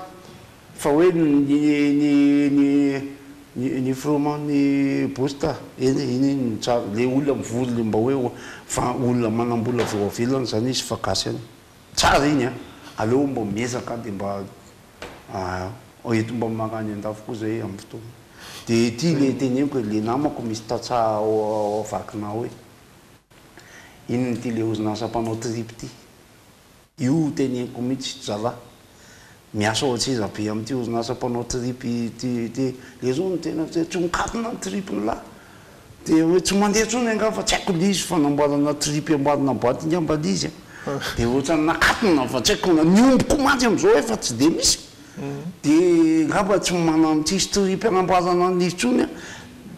fa hoe ny ny ny ny froment ny bosta eny e iny no tsara le olona mivory le mba hoe fa olona manambola vao avelany zany izy fa gasy any tsara iny a aleo mba miezaka de mba eto mba mankany an-dafy koa zay amin'ny fotoana dia ity le teneniko hoe le namako misy tantsaha ao vakina ao e inona ity le ozinasa mpanao tripy ity io teneniko mihitsy zala miasa ao an-tseza be amin'ity ozinasa mpanao tripy ity ity le zao ny tena tsy mikatona ny tripy ny lahy Dia hoe tsy mandeha intsony angaha fa tsy haiko ilay izy fanamboarana tripy amboarina boaty ngamba ilay izy a! Dia ohatrany nakatona fa tsy haiko na ny omby koa mantsy amin'izao efa tsy dia misy dia ngamba tsy manana tsisy tripy anamboarana an'ilay izy intsony a!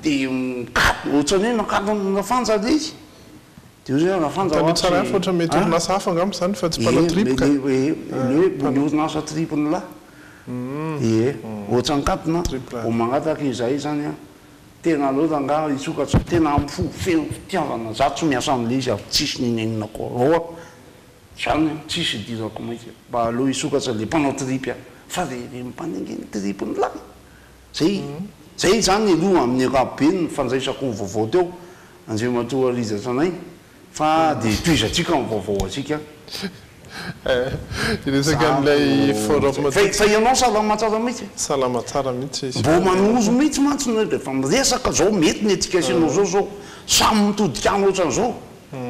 Dia mikatona ohatrany hoe nakatona an'i Rafanja ilay izy dia hoy izy hoe Rafanja ho'a tsy Tantara hafa ohatra mety orinasa hafa angamba izany fa tsy mpanao tripy ka! Ie, ilay hoe ny orinasa tripin'lah, ie, ohatrany katona vao mangataka izahay izany a! Tena loza angaha hitsoka tsy tena am fo feno fitiavana za tsy miasa amle izy ary tsisy ninenako roa zany an tsisy idirako maika mba aleo hisokatra le mpanao tripy an fa le le mpanengy ny tripy ny lahy zay zay zany aloha aminy ankapobeny ny fandraisako ny vaovao teo Andriamatoa Rija Tranainy Fa dia tohizantsika amin'ny vaovao antsika Eh, resaka an'ilay forum Fa tetsy. fa ianao salama tsara mihitsy? Salama tsara mihitsy izy. Mbo manozo mihitsy mantsy nareo de efa miresaka zao mety ny antsika sy ianao zao zao samy mitodika any otran'zao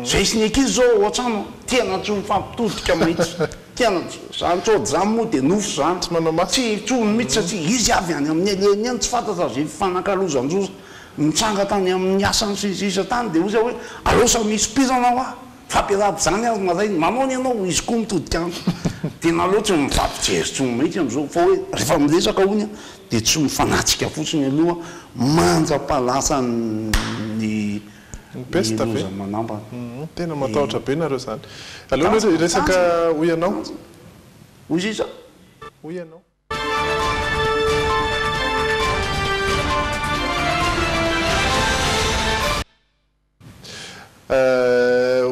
zay sy ny ankizy zao ao an-trano an, tena tsy mifampitodika mihitsy tena tsy, zany sao d'zany moa de nofy zany Tsy manao masy. tsy intsony mihitsy satria izy avy any amin'ny alien any tsy fantatra zay fifanakalozan-joza Nitranga tany amin'ny asany sy ny sisa tany dia hoy izy aho hoe, aleo samy hisompirana hoa, fampiarahako izany ary maraina, manao ny anao, izy koa mitodika amiko. Tena aleo tsy mifampijery intsony mihitsy amin'izao fa hoe rehefa miresaka hono an, dia tsy mifanatrika fotsiny aloha mandra-palasan'ny Ny peste ve? loza manambana. Humm, tena matahotra be nareo zany. Aleo aloha Tanjona, resaka tanjona, hoy ianao. tanjona. Hoy izy aho. Hoy ianao.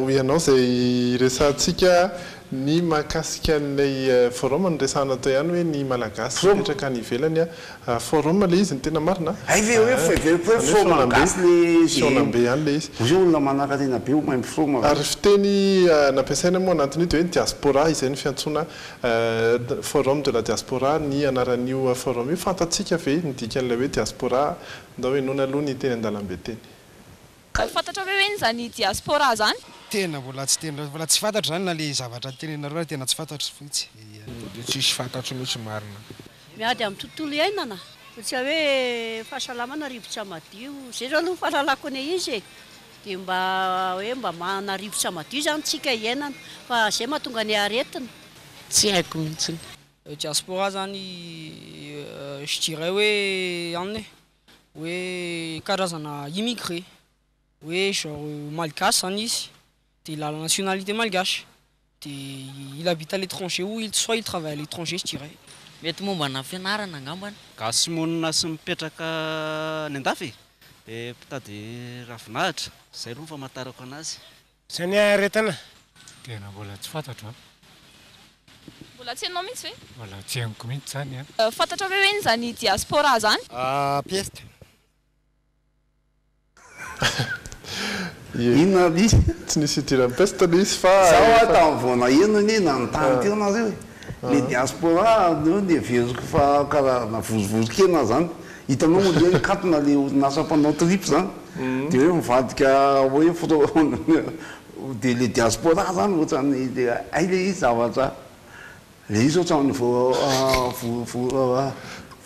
Hoy ianao izay hiresahantsika ny mahakasika an'ilay forum niresahana hatao ihany hoe ny Malagasy mipetraka any ivelany an! Forum ilay izy no tena marina an! Hay ve hoe hay ve hoe forum gasy le izy e! Fihaonambe ihany ilay izy. Hoy olona manankarena be ho maimbo forum ve? Ary fiteny nampiasaina moa anatin'io dia hoe ny diaspora izay no fiantsoana Forum de la Diaspora ny anaran'io forum io. Fantatsika ve ny dikan'ilay hoe Diaspora? Ndao henoina aloha ny teny an-dalambe teny. Ary fantatrao ve hoe inona izany Diaspora zany? Tena mbola tsy tena, mbola tsy fantatra zany na le zavatra teneninareo na tena tsy fantatro foitsy. Dia tsisy fantatro mihitsy marina. Miady amin'ny tontolo iainana fa tsy hoe fahasalamana rivotra madio zay zao aloha ny fahalalako ny izy e! dia mba hoe mba manana rivotra madio zany tsika hiainana fa zay mahatonga ny aretina. Tsy haiko mihitsy. Diaspora zany je dirais hoe aminy hoe karazana immigré hoe genre malgache zany izy Dia la nationalité malgache. Dia il habite à l'étranger ou il soit il travaille à l'étranger je dirais. Mety mombana fianarana angambany. Gasy monina sy mipetraka any an-dafy e! Dia mpitady ravinahitra. Izay aloha ny famantarako anazy. Izay ny aretina. Tena mbola tsy fantatro an. Mbola tsy henonao mihitsy ve? Mbola tsy henoko mihitsy izany an. Fantatrareo ve izany diaspora izany? Peste. Ye. Inona aby? Tsy nisy hidirany peste le izy fa Za hoa tam vao naheno anie nanontany teo nareo e. Le diaspora nareo neveriko fa karaha navozivozy kena zany. Hitanao moa le nikatona le orinasa mpanao trip zany de hoe mivadika hoe de le diaspora zany ohatrany hay le izy zavatra. Le izy ohatran'ny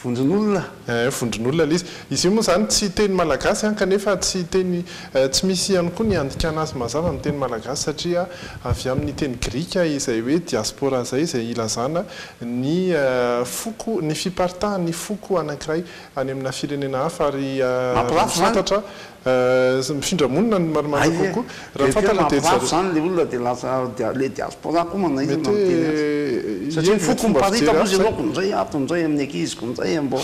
vondron'olona. Eh, vondron'olona le izy. Izy io moa izany tsy teny malagasy an, kanefa tsy teny, tsy misy ihany koa ny handikana azy mazava amin'ny teny malagasy satria avy amin'ny teny grika izay hoe diaspora izay, izay ilazana ny foko, ny fiparitahan'ny foko anankiray any amina firenena hafa ary raha ny fantatra Eh, mifindra monina ny marimarina kokoa raha fantatra dia zareo. Mety hoe mampirafy izany ilay olona dia lasa ilay diaspora koa manao inona no tiany azy. Satria ny foko miparitaka hozy ianao koa indray ato, indray amin'ny ankiziko, indray amboa.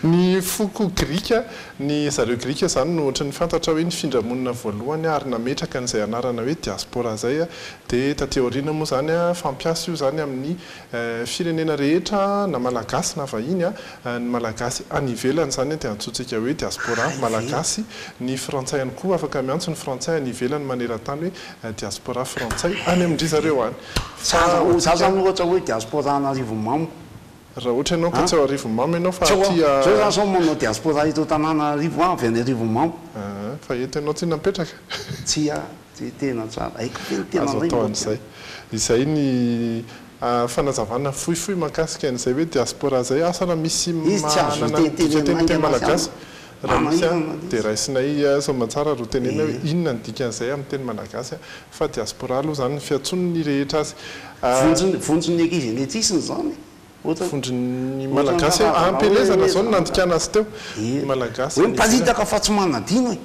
Ny foko grika, ny zareo grika izany no ohatran'ny fantatra hoe nifindra monina voalohany ary nametraka an'izay anarana hoe diaspora izay. Dia taty aoriana moa izany, fampiasa io izany amin'ny firenena rehetra na malagasy na vahiny a, ny malagasy any ivelany izany dia antsointsika hoe diaspora malagasy, ny frantsay ihany koa afaka miantso ny frantsay any ivelany maneran-tany hoe diaspora frantsay any amin-dry zareo any fa ho antsika. Za zany ohatra hoe diaspora an'arivomamo. Raha ohatra ianao ka tsy ao arivomamo ianao fa aty a. Zao za sao manao diaspora eto tanàna arivo avy any arivomamo. Fa eto ianao tsinona mipetraka? Tsia. Dia tena tsara. Aiko ve ny tena anay Morgan? Izay ny fanazavana fohifohy mahakasika an'izay hoe diaspora izay. Asa raha misy manana ny dikanteny teny malagasy raha misy an, dia raisinay soamantsara ro tenenina hoe inona ny dikan'izay amin'ny teny malagasy an. Fa diaspora aloha izany ny fiantsoany ny rehetra azy. Vonjin'ny ankizy eny an-tsisiny izany ohatra. Vondron'ny malagasy hoe ampielezana izao no nandikana azy teo. Malagasy eny an-tsisiny. Hoe miparitaka fa tsy manadino e.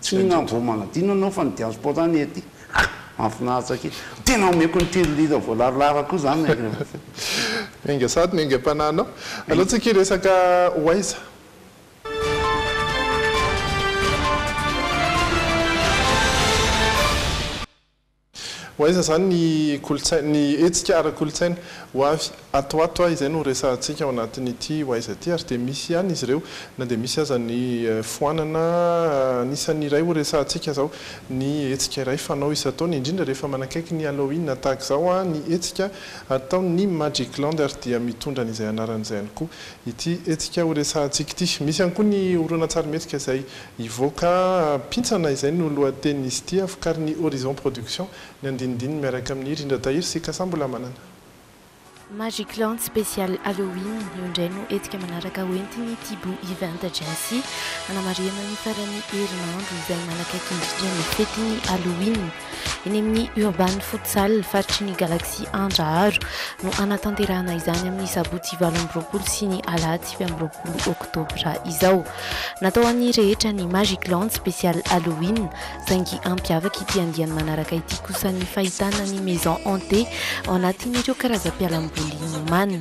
Tsy mihinana vao manadino anao fa ny diaspora nety ha! mahafinaritra kely. Tena omeko ny tirelire voalarilara koa zany e rehefa fety. Miainga sahady ny aingam-panahinao. Aleontsika hiresaka ho aiza? Ho aiza izany ny kolontsaina, ny hetsika ara-kolontsaina ho avy? Ato ho ato, izay no resahantsika ao anatin'ity Ho aiza ity, ary dia misy ihany izy ireo na dia misy aza ny foanana. Anisan'ny iray ho resahantsika izao ny hetsika iray fanao isan-taona, indrindra rehefa manakaiky ny Halloween tahaka izao, ny hetsika ataon'ny Magicland, ary dia mitondra an'izay anarana izay ihany koa ity hetsika ho resahantsika ity. Misy ihany koa ny horonantsarimihetsika izay Hivoaka pintsana izay no lohatenin'izy ity, vokarin'ny Horizon Production. Ny andinindininy miaraka amin'i Rindra Tahiry sy Kassa Mbolamanana. Magic Land Special Halloween, io indray no hetsika manaraka hoentin'ny Tibo Event Agency hanamarihana ny faran'ny herinandro izay manakaiky indrindra ny fetin'ny Halloween. Eny amin'ny Urban Futsal, faritry ny Galaxy Andraharo, no hanatanterahana izany amin'ny sabotsy valo amby roapolo sy ny alahady sivy amby roapolo oktobra izao. Natao an'ny rehetra ny Magic Land Special Halloween, saingy hampiavaka ity andiany manaraka ity kosa ny fahitana ny Maison Hantée ao anatin'ireo karazam-pialamboly miomàna.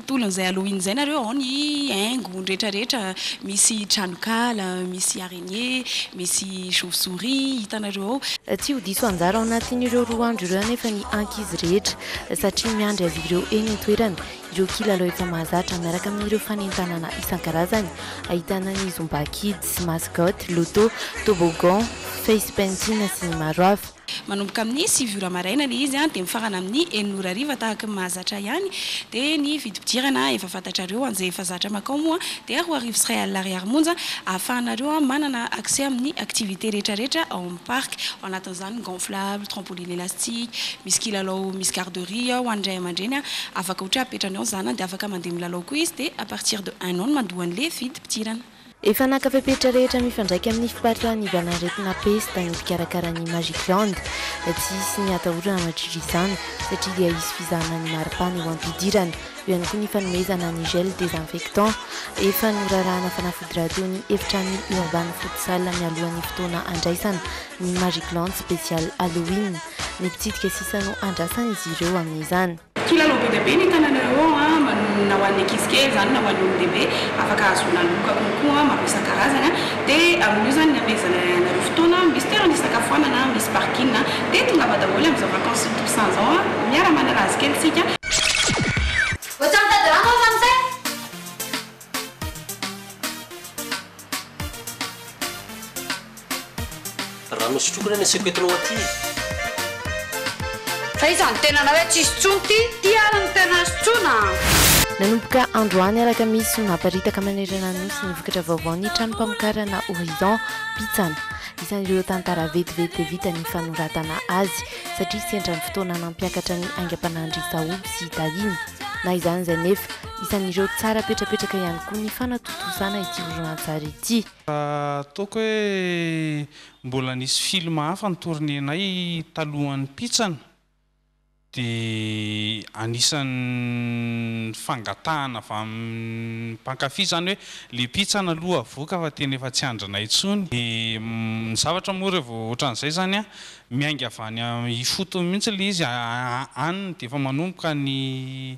Tolony zay aloha iny zay nareo ao ny haingo rehetra rehetra misy tranokala, misy araignée, misy chauve souris hitanareo ao. Tsy ho diso anjara ao anatin'ireo roa andro ireo anefa ny ankizy rehetra satria miandry azy ireo eny an-toerana ireo kilalao efa mahazatra miaraka amin'ireo fanentanana isan-karazany ahitana ny zumba kids, mascotte, loto, toboggan, face painting sy ny maro hafa. Manomboka amin'ny sivy ora maraina ilay izy dia mifarana amin'ny enina ora hariva tahaka ny mahazatra ihany. Dia ny vidim-pidirana efa fantatrareo an'izay efa zatra makao moa dia roa arivo sy iray alina ariary monja ahafahanareo manana accès amin'ny activités rehetrarehetra ao amin'ny parc. Ao anatin'izany gonflable, trampoline elastique, misy kilalao misy garderie ho an'ny ray aman-dreny afaka ohatra hoe apetrany ao ny zanany dia afaka mandeha milalao koa izy dia à partir de un an no mandoa an'ilay vidim-pidirana. Efa naka fepetra rehetra mifandraika amin'ny fiparitahan'ny valan'aretina pesta ny mpikarakara ny Magic Land. Tsy hisy ny hatahorana mandritra izany satria dia hisy fizahana ny maripana eo am-pidirana. Eo ihany koa ny fanomezana ny gel désinfectant. Efa norarahana fanafody radio ny efitranon'ny Urban Futsal mialohan'ny fotoana handraisana ny Magic Land Special Halloween. Ny mpitsidika sisa no andrasana izy ireo amin'izany. Kilalao be dia be ny tananareo ao an, manonona ho an'ny ankizy kely izany na ho an'ny olon-dehibe, afaka ahazoana loka konkoa maro isan-karazany an, dia amin'io izany ny amezanay anareo fotoana, misy toerana hisakafoanana an, misy parking an, dia tongava daholo amin'izao vacances Toussaint izao an, miara-manala azy kely tsika. Ohatran'ny tadirama français. Raha nosotroiko anie ny aseiko eto aloha aty e. Fa iza ny tenanao hoe tsisy tsony ty? Ty ary ny tena azo tsoina a! Nanomboka androany alakamisy no naparitaka manerana ny nosy ny vokatra vaovao ny tranom-pamokarana Horizon Pitsana. Isan'ireo tantara vetivety dia vita ny fanoratana azy satria sendra ny fotoana nampiakatra ny aingam-panahin-dry Sahoby sy Dahina. Na izany izay nefa, Isan'ireo tsara petrapetraka ihany koa ny fanatontosana ity horonantsary ity. Ataoko hoe mbola nisy film hafa notourner-nay talohan'ny pitsana dia anisan'ny fangatahana avy amin'ny mpankafy izany hoe ilay pitsana aloha avoaka fa tena efa tsy andrinay intsony dia ny zavatra moa raha vao ohatran'izay izany miainga avy any ifotony mihitsy ilay izy any dia efa manomboka ny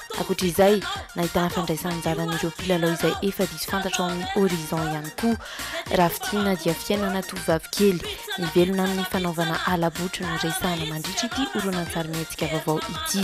Ankoatra izay, nahitana fandraisan-anjaran'ireo mpilalao izay efa diso fantatra ao amin'ny Horizon ihany koa. Raha fintinina dia fiainana tovovavy kely mivelona amin'ny fanaovana hala-botry no resahana mandritra ity horonantsarimihetsika vaovao ity.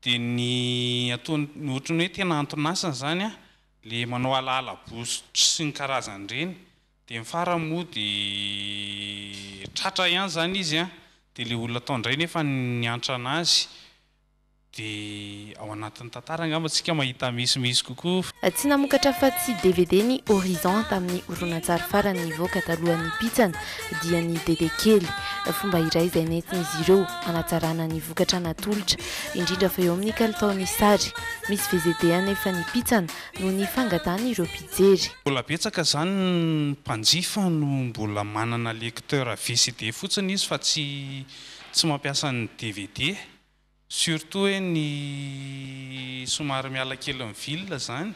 Dia ny ataony ohatry ny hoe tena anton'asany izany an, ilay manao alaala bosotry sy ny karazany ireny, dia ny farany moa dia tratra ihany izany izy an, dia ilay olona tao indray nefa niantrana azy, dia ao anatin'ny tantara angamba tsika mahita misimisy kokoa. Tsy namokatra afa-tsy dvd ny Horizon tamin'ny horonantsary farany nivoaka talohan'ny hipitsana, dia ny DD kely. Fomba iray izay nentin'izy ireo hanatsarana ny vokatra natolotra, indrindra fa eo amin'ny kalitaon'ny sary. Misy VZD anefa nipitsana noho ny fangatahan'ireo mpijery. Mbola betsaka izany ny mpanjifa no mbola manana lecteur VCD fotsiny izy fa tsy tsy mampiasa ny dvd. Surtout hoe ny somary miala kelin'ny ville zany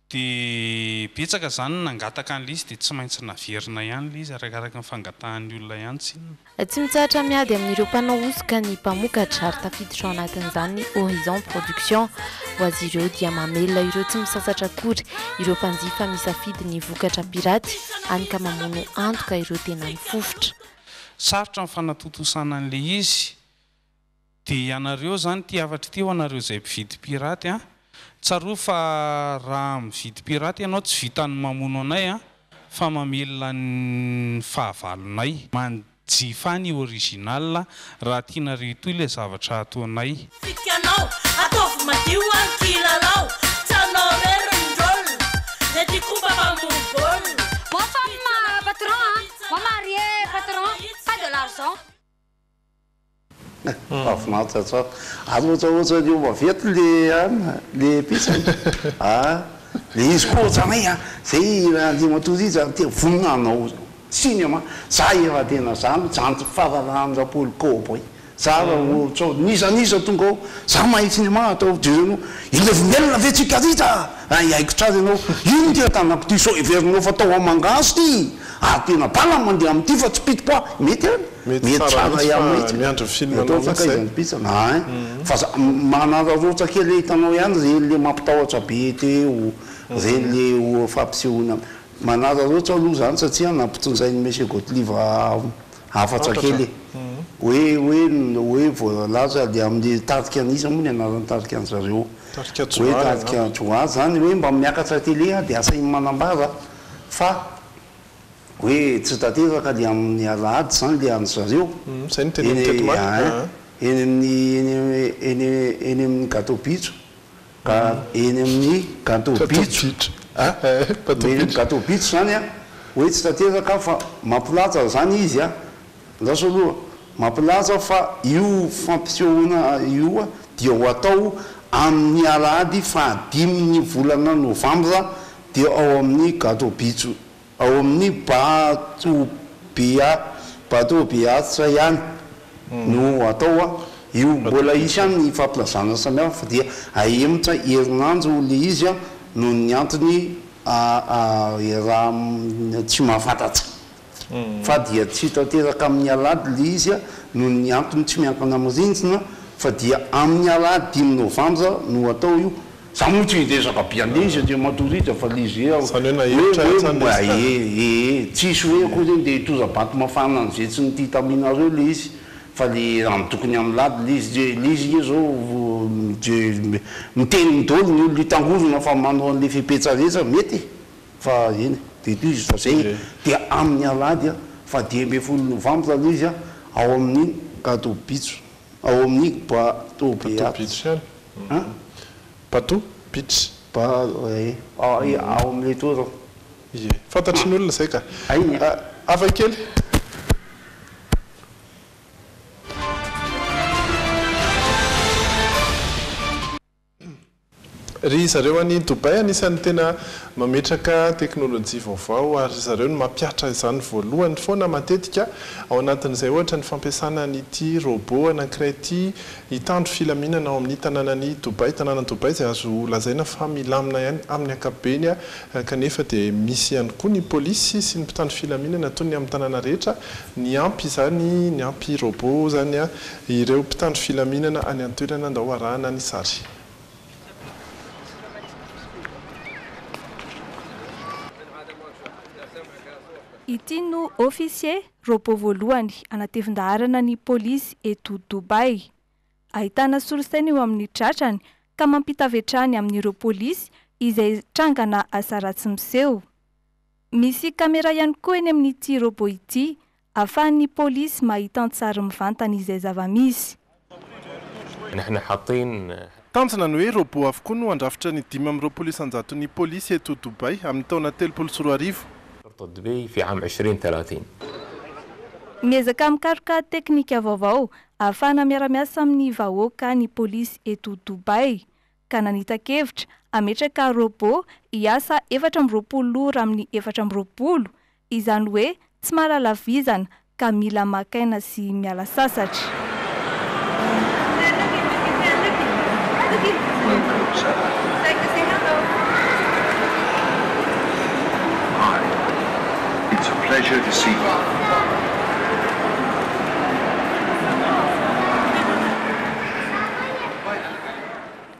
de betsaka zany ny nangataka an'ilay izy de tsy maintsy naverina ihany ilay izy arakaraky ny fangatahan'ny olona ihany tsinona. Tsy mitsahatra miady amin'ireo mpanao hosoka ny mpamokatra ary tafiditra ao anatin'izany ny Horizon Production. Ho azy ireo dia mamelona ireo tsy misasatra akory ireo mpanjifa misafidy ny vokatra piraty, hany ka mamono antoka ireo tena mifofotra. Sarotra ny fanatontosana an'ilay izy. Dia ianareo izany ity hafatra ity ho anareo izay mpividy piraty an! Tsarovy fa raha mividy piraty ianao tsy vitan'ny mamono anay an! Fa mamelona ny fahavalonay! Manjifa ny original raha tianareo hitohy ilay zavatra ataonay! Tafidiko anao, ataovy madio an kilalao Tianao rery ny role, dia ty kompa mpamono bole Bonne femme patron an, moi marier patron, pas de l'argent. Mafinaritra tsara. Any ohatran ohatran ny omby maventy le an, le pitsany a, le izy koa ohatranay an, zay andriamatoa rija ny tena vonona hanao tsiny ama, za efa de na za mitsy antso fararano za paoly koboi, za ra ohatrao n'iza n'iza tonga ao, za mahay tsiny ama atao jereo, ilay vomelina ve tsika rija a, hay haiko tsara ianao, io ny tena tanako ty sao heverinao fa tao amangahazo ty ary tena bala ny mandeha amty fa tsy pitipoa, mety any. Mety tsara mihitsy fa miandry ny film nao mihitsy zay. Fa za manararaotra kely hoe hitanao ihany ireny ilay mampitahotra be teo, ireny le fampisehoana, manararaotra aloha izany satria nampitondrain'i Monsieur Gottlieb hafatra kely e, hoe hoe hoe voalaza le amin'ny tarika an'iza moa ny anaran'ny tarika an'i zareo? Tarika Johary angamba. Hoe tarika Johary izany hoe mba miakatra télé dia asainy manambara fa hoe tsy tanteraka ny amin'ny alahady izany ilay an'i zareo, eny amin'ny gateau bitro, eny amin'ny gateau bitro, eny amin'ny gateau bitro izany hoe tsy tanteraka fa mampilatsa izany izy Andraso aloha, mampilaza aho fa io fampisehoana io dia ho atao amin'ny alahady fahadimin'ny volana novambra dia ao amin'ny Gatobice, ao amin'ny Batobeatsk ihany no ho atao io. Mbola hisy ihany ny fampilazana samihafa fa dia hahemotra herinandro ilay izy noho ny antony raha tsy mahafantatra. fa dia tsy tanteraka amin'ny alahady ilay izy noho ny antony tsy miankina amin'ny rindrina fa dia amin'ny alahady dimy novambra no atao io. Za moa tsy hiresaka be an'ilay izy Andriamatoa Rija fa ilay izy hoe ee tsisy hoe akory hoe ndeha hitoza bandy mafana an'izay tsy nitita aminareo ilay izy fa ilay raha ny tokony amin'ny alahady ilay izy dia ilay izy nge zao miteny daholo ny olona hitangorona fa manao an'ilay fepetra rehetra mety e! Fa eny, dia toy izy fa zay dia amin'ny alahady faha dimy ambin'ny folo novambra aloha izy ao amin'ny Katowice, ao amin'ny Kpatowice, ao amin'ny Litoral. Ie, fantatry ny olona izay ka. Ainy e. Hafa kely. Ry zareo any Dubai anisan'ny tena mametraka teknolojia vaovao ary ry zareo no mampihatra izany voalohany foana matetika, ao anatin'izay ohatra ny fampiasana an'ity robot anankiray ity hitandro filaminana ao amin'ny tanànan'i Dubai, tanànan'i Dubai izay azo lazaina fa milamina ihany amin'ny ankapobeny kanefa dia misy ihany koa ny polisy sy ny mpitandro filaminana toy ny amin'ny tanàna rehetra, niampy izany, niampy robot izany Ireo mpitandro filaminana any an-toerana ndao arahana ny sary. Ity no Officier Robot voalohany anatevin-daharana ny Polisy eto Dubaï. Ahitana solosaina eo amin'ny tratrany ka mampita avy hatrany amin'ireo Polisy izay trangana asa ratsy miseho. Misy caméra ihany koa eny amin'ity robot ity afahan'ny polisy mahita an-tsary mivantana izay zava-misy. Tanjona ny hoe robot avokoa no handrafitra ny dimy amby roapolo isan-jaton'ny polisy eto Dubaï amin'ny taona telopolo sy roa arivo. Miezaka mikaroka teknika vaovao ahafahana miara-miasa amin'ny vahoaka ny polisy eto Dubaï. ka nanita-kevitra hametraka robot hiasa efatra amby roapolo ora amin'ny efatra amby roapolo, izany hoe tsy mahalala vizana ka mila maka aina sy miala sasatra.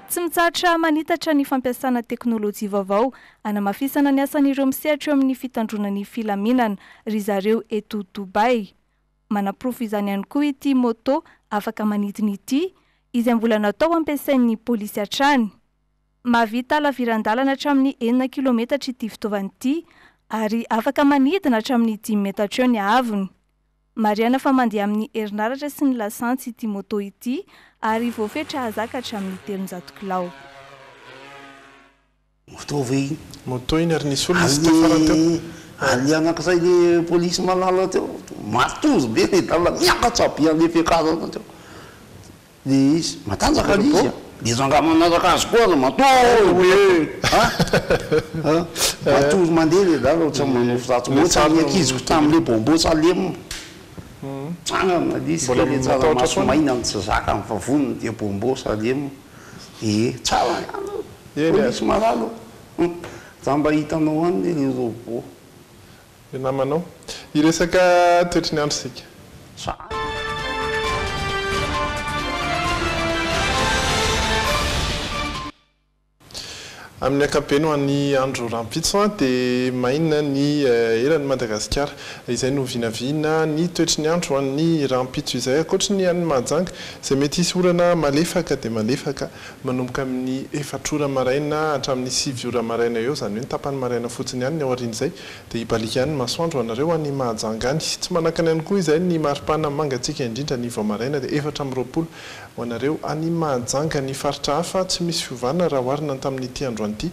Tsy mitsahatra manitatra ny fampiasana teknolojia vaovao hanamafisana ny asan'ireo misehatra eo amin'ny fitandroana ny filaminana ry zareo eto Dubaï. Manaporofo izany ihany koa ity moto afaka manidina ity, izay mbola natao hampiasain'ny polisy hatrany. Mahavita halaviran-dalana hatramin'ny enina kilometatra ity fitaovana ity, ary afaka manidina hatramin'ny dimy metatra eo ny haavony. Marihana fa mandeha amin'ny herinaratra sy ny lasantsy ity moto ity ary voafetra hahazaka hatramin'ny telonjato kilao. Moto ve iny? Moto iny ary nisy olona izy teo farany teo? Dia alihanaka izay le polisy malala teo, maty tojo be ny dalana, miakatra be any fekazana teo. le izy matanjaka le izy a, le rangah manaraka azy koa ary matory be a, matory mandeha le dala ohatran'ny manofy ratsy, ohatran'ny ny ankiziko tamin'le bonbon salem, tsangana le izy kay le tsaramaso maina no tsy zakany fa vonona dia bonbon salem, ee tsara ihany io, police marary io, za mba hitanao any le le robot. Ry namana o. Hiresaka toetry ny andro isika. Sa. Amin'ny ankapobeny ho an'ny andro rahampitso dia maina ny eran'i Madagasikara. Izay no vinavina ny toetry ny andro ho an'ny rahampitso izay. Ankoatry ny any Mahajanga izay mety hisy orana malefaka dia malefaka Manomboka amin'ny efatra ora maraina hatramin'ny sivy ora maraina eo, izany hoe ny tapany maraina fotsiny ihany, ny aorian'izay dia hibaliaka ihany ny masoandro ho anareo any Mahajanga any. Tsy manakana ihany koa izay ny maripana mangatsiaka indrindra ny vao maraina dia efatra amby roapolo ho anareo any Mahajanga. Ny faritra hafa tsy misy fiovana raha oharina ny tamin'ity androany ity,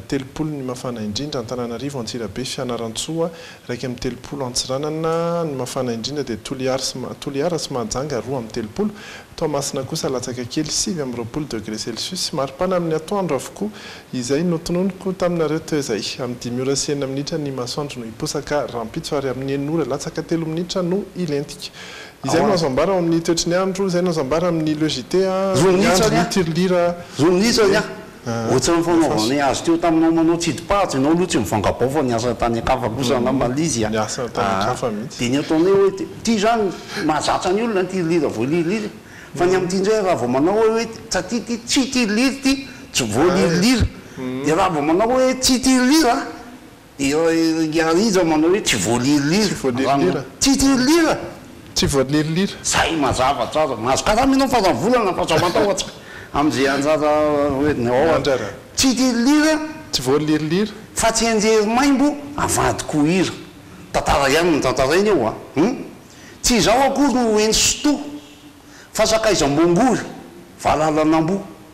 telopolo ny mafana indrindra, Antananarivo, Antsirabe, Fianarantsoa, iraika amby telopolo, Antsiranana, ny mafana indrindra dia Toliary sy Toliara sy Mahajanga, roa amby telopolo, Toamasina kosa latsaka kely sivy amby roapolo degré celsius sy maripana amin'ny atoandro avokoa izay notononiko taminareo teo izay. Amin'ny dimy ora sy enina minitra ny masoandro no hiposaka rahampitso ary amin'ny enina ora latsaka telo minitra no hilentika. Izay no azo ambara ao amin'ny toetry ny andro, izay no azo ambara amin'ny Le JT, ny andro, ny tirelira, izay. Ohatran'ny fanaovana hoe azo teo taminao manao tsy dipahaja ianao aloha tsy mivangabao fa niasa tany an-kafa kosa angamba lzy a! aa! Dia ny ataonay hoe ity izany mahazatra ny olona ity lira voalililira e! Fa ny amin'ity indray raha vao manao aho hoe tsa ty ty tsy ty lira ity tsy voalililira dia raha vao manao hoe tsy ty lira Ianao izao manao hoe tsy voalirlira, angano tsy tsirirlira? Tsy voalirlira. Zay mazava tsara, mahazo karama ianao faran'ny volana fa sao matahotra amin'izay anjara hoentina ao ary. Anjara. Tsy tsirirlira. Tsy voalirlira. Fa tsy enjery maimbo avadiko hira. Tantara ihany no tantaraina eo an! Tsy izaho akory no heno sy toa fa sakaizam-boangory, valalan'amboa.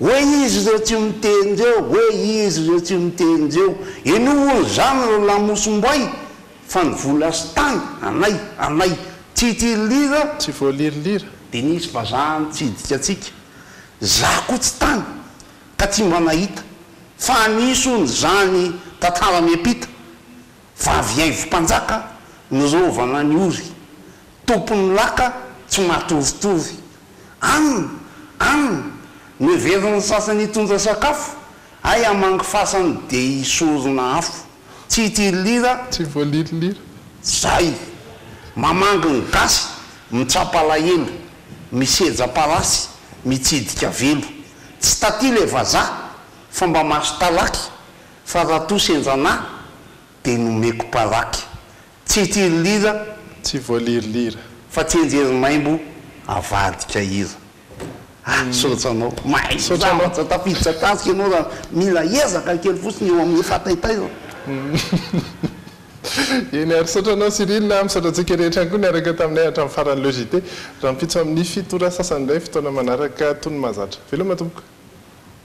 Hoe izy ireo tsy miteny ireo, hoe izy ireo tsy miteny ireo. Eny hono izany ireo lamosim-boay fa ny vola sy tany anay, anay. Tsy tirilira. Tsy voalirilira. Dia nisy vazaha nitsidika antsika. Za koa tsy tany ka tsy mba nahita fa nisy hono izany tantara miampita. Vavy haivo mpanjaka ny rova maniory, tompon'ny laka tsy matoritory. An! An! no heverin'ny sasany hitondra sakafo, hay hamangy fasany dia hisorona afo. Tsy hitirilira? Tsy voalirilira? Zay! Mamangy ny gasy, mitsapa alahelo, misedra parasy, mitsidika velo. Tsy taty le vazaha, fa mba maso talaky, Fa raha toa sendra anà dia nomeko paraky. Tsy hitirilira. Tsy voalirilira. Fa tsy henjery maimbo avadika hira. Ah, soratra anao. Mahay zavatra, tafiditra tarika ianao raha mila ezaka kely fotsiny eo amin'ny fataitaizana. Eny ary, misaotra anao Cyril a. Misaotra antsika rehetra ihany koa niaraka taminay hatramin'ny faran'ny Le JT. Rahampitso amin'ny fito ora sasany indray ny fotoana manaraka, tony mahazatra. Veloma tompoko.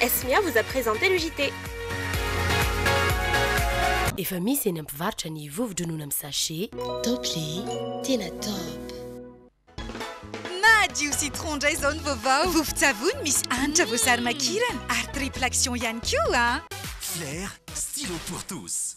Esmia vous a présenté le JT. Efa misy eny amin'ny mpivarotra ny vovo-dronono amin'ny sachet. Top le, tena top. Madio citron indray izao ny vaovao. Vovon-tsavony misy hanitra voasary makirana ary triple action ihany koa an! Flair, stylo pour tous.